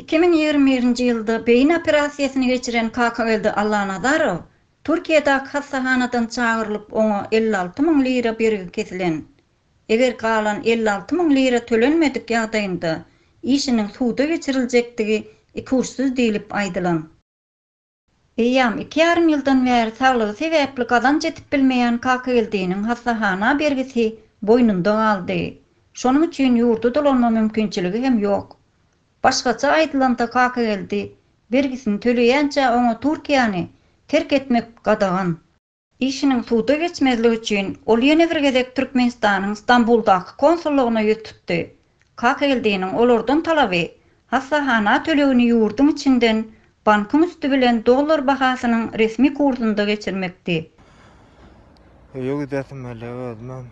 Iki müň ýigrimi birinji ýylda beýin operasiýasyny geçiren Kakageldi Allanazarow Türkiýedäki hassahanadan çagyrylyp, oňa elli alty müň lira bergi kesilen. Eger galan elli alty müň lira tölenmedik ýagdaýynda işiniň suda geçiriljekdigi ikuçsyz diýlip aýdylan. Eýýam iki ýarym ýyldan bäri saglygy sebäpli gazanç edip bilmeýän Kakageldiniň hassahana bergisi boýnunda galdy. Şonuň üçin ýurdy dolanma mümkinçiligi hem ýok. Başgaça aýdylanda Kakageldi bergisini töleýänçä oňa Türkiýäni terk etmek gadagan. Işiniň suda geçmezligi üçin, ol ýene bir gezek Türkmenistanyň Stambuldaky konsullygyna ýüz tutdy. Kakeldiniň olardan talaby, hassahana tölegini ýurduň içinden bankyň üsti bilen dollar bahasynyň resmi kursunda geçirmekdi. Öýe gidesim gelýär özümem.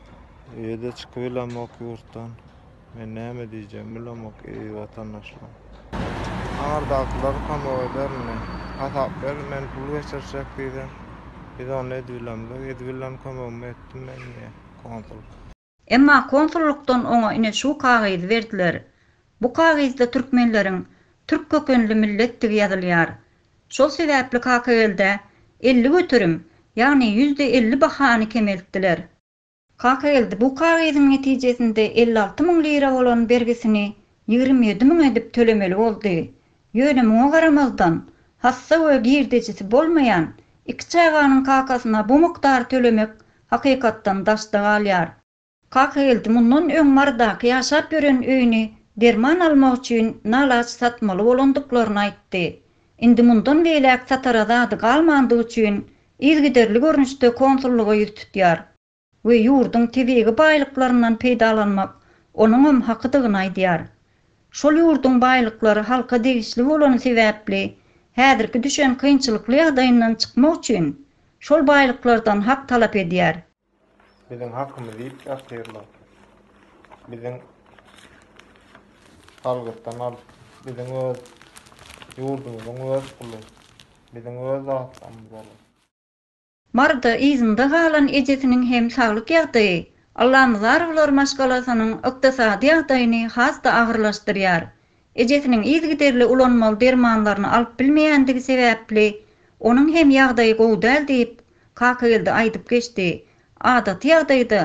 Öýe-de çykybilemok ýurtdan. Men näme diýjegimi bilemok eziz watandaşlar. Aňyrdakylar pamok eder indi. Hasap ber, men pul geçirjek diýdi. Biz onda edbilemzok. Edbilen kömegimi etdim men diýýär konsul. Emma konsullykdan oňa ine şu kagyzy berdiler. Bu kagyzda türkmenleriň türk kökenli milletdigi ýazylýar. Şol sebäpli Kakageldä elli göterim, ýagny ýüzde elli bahany kemeltdiler. Kakageldi bu kagyzyň netijesinde elli alty müň lira bolan bergisini ýigrimi ýedi müň edip tölemeli boldy. Ýöne muňa garamazdan, hassa we girdejisi bolmaýan iki çaganyň kakasyna bu mukdary tölemek hakykatdan daşda galýar. Kakageldi mundan öň Marydaky ýaşap ýören öýüni derman almak üçin nalaç satmaly bolandyklaryny aýtdy. Indi mundan beýläk satara zady galmandygy üçin yzygiderli görnüşde konsullyga ýüz tutýar we ýurduň tebigy baýlyklaryndan peýdalanmak onuňam hakydygyny aýdýar. Şol ýurduň baýlyklary halka degişli bolany sebäpli häzirki düşen kynçylykly ýagdaýyndan çykmak üçin şol baýlyklardan hak talap edýär. Biziň hakymyz diýip ýatyrlar. Biziň salgytdan alyp, biziň öz ýurdumyzyň öz puly, biziň öz zatlarymyz bolar. Maryda yzynda galan ejesiniň hem saglyk ýagdaýy Allamyzarowlar maşgalasynyň ykdysady ýagdaýyny has-da agyrlaşdyrýar. Ejesiniň yzygiderli ulanmaly dermanlaryny alyp bilmeýändigi sebäpli, onuň hem ýagdaýy gowy däl diýip, Kakageldi aýdyp geçdi. Adaty ýagdaýda,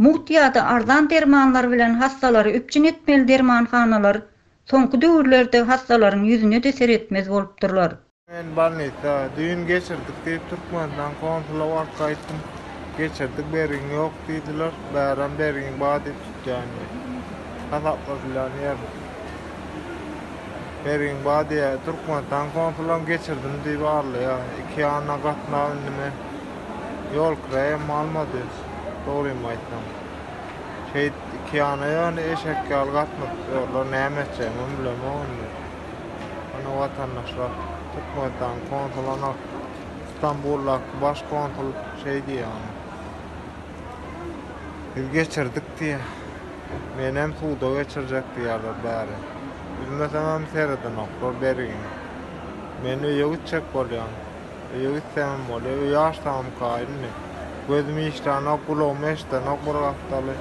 mugt ýa-da arzan dermanlar bilen hassalary üpjün etmeli dermanhanalar soňky döwürlerde hassalaryň ýüzüne-de seretmez bolupdyrlar. Men bolnisa düýn geçirdik diýip Türkmenistan konsula baryp gaýtdym. Geçirdik bergiň ýok diýdiler. Bäram bergiň bar diýip tutýan ýeri. Hasaplaşylýan ýer. Bergiň bar diýýär. Türkmenistan konsulam geçirdim diýip arlaýar. Iki ýana gatnap indi men ýol kiraýam almady. Dogrymy aýtsam. Şeýdip iki ýana ýöne eşek ýaly gatnadyp ýörler. Näme etjegimem bilemok indi. Muny watandaşlar Türkmenistan konsulyna Stambuldaky baş konsul şeý diýýär. Biz geçirdik diýýär. Menem suda geçirjek diýýärler bäri. Üzmesemem seredenoklar berigiň. Men öýe gitjek bolýan. Öýe gitsemem bolýa. Öýi açsamka indi. Gözüm işlänok, gulagym eşdenok bir gapdaly.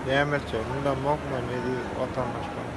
Näme etjegimi bilemok men eziz watandaşlarym.